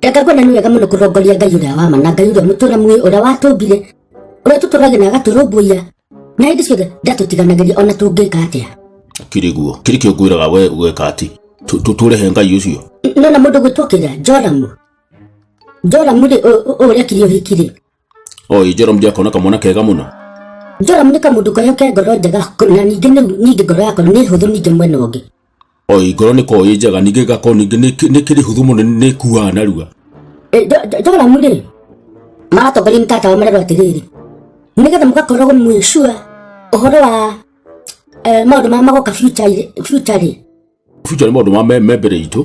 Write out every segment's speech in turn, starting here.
Enga ngwena nĩ wega mũno kũrongoria Ngai ũrĩa wa ma na Ngai ũrĩa mũtũra muoyo ũrĩa watũmbire ũrĩa tũtũragia na agatũrũmbũiya na hĩndĩ ciothe ndatũtiganagĩria ona tũngĩka atĩa kiri guo kiri kio ngwiraga we gweka ati tuture he ngai ucio nona mũndũ gwĩtwo kĩrĩa njoramu njoramu rĩ ũrĩa kiri ũhiki rĩ Oi, Joram Jakona kamwana kega mũno. Joram nĩ kamũndũ karĩa ke ngoro njega na ningĩ ningĩ ngoro yakwa nĩ hũthũ ningĩ mwena ũngĩ. Oi, ngoro nĩ koĩ njega ningĩ gako ningĩ nĩ kĩrĩ hũthũ mũno nĩ kuaga narua. E, Joram rĩ, maratongoria nĩ tata wa marerwo atĩrĩrĩ, nĩgetha mũgakoragwo mwĩ sure ũhoro wa e, maũndũ marĩa magoka future rĩ. Future nĩ maũndũ ma me mbere itũ.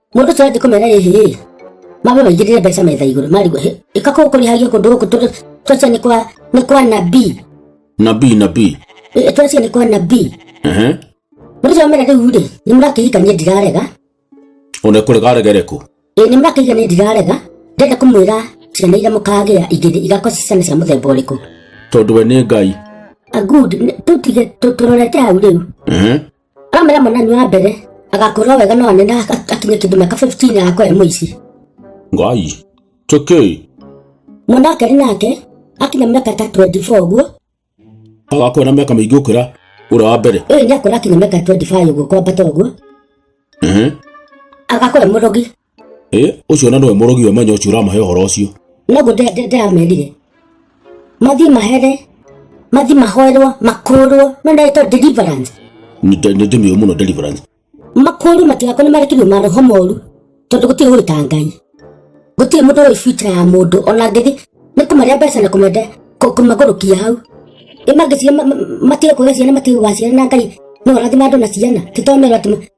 Mũndũ ũcio athiĩ kũmera rĩrĩ, mabe maigĩrĩre mbeca metha igũrũ marigwo ĩka kũu kũrĩhagia kũndũ gũkũ twacia nĩ kwa nĩ kwa nabii nabii nabii twacia nĩ kwa nabii mũndũ ũcio amera rĩu rĩ nĩ mũrakĩhika niĩ ndirarega one kũregaregere kũ ĩ nĩ mũrakĩhika niĩ ndirarega ndenda kũmwĩra ciana iria mũkagĩa igĩrĩ igakorwo ci ciana cia mũthemba ũrĩkũ tondũ we nĩ ngai a good tũtige tũrorete hau rĩu Kamera mwanani wa mbere agakũra wega no anene akinye kĩndũ mĩaka 15 ya kwe mũici. Ngai. Tũkĩ. Mwana kerĩ nake akinya mĩaka ta 24 ũguo. Agakũra na mĩaka mĩingĩ ũkĩra ũrĩa wa mbere. Ũyũ nĩ akũra akinya mĩaka 25 ũguo kwambata ũguo. Ehe. Agakũra mũrogi. ĩ ũcio na nĩwe mũrogi we manya ũcio ũramahe ũhoro ũcio noguo ndĩramerire mathiĩ mahere mathiĩ mahoerwo makũrwo no ndagĩtwo deliverance nĩ ndĩmĩũ mũno deliverance makũrwo matigakwo nĩ marekerio maroho moru tondũ gũtirĩ ũĩ ta ngai gũtirĩ mũndũ ũĩ future ya mũndũ ona ngĩthi nĩ kũmarĩa mbeca na kũmenda kũ- kũmagũrũkia hau ĩ mangĩciria matige kũgĩa ciana matige gũgaciara na ngai no ũrathima andũ na ciana titomerwo atĩ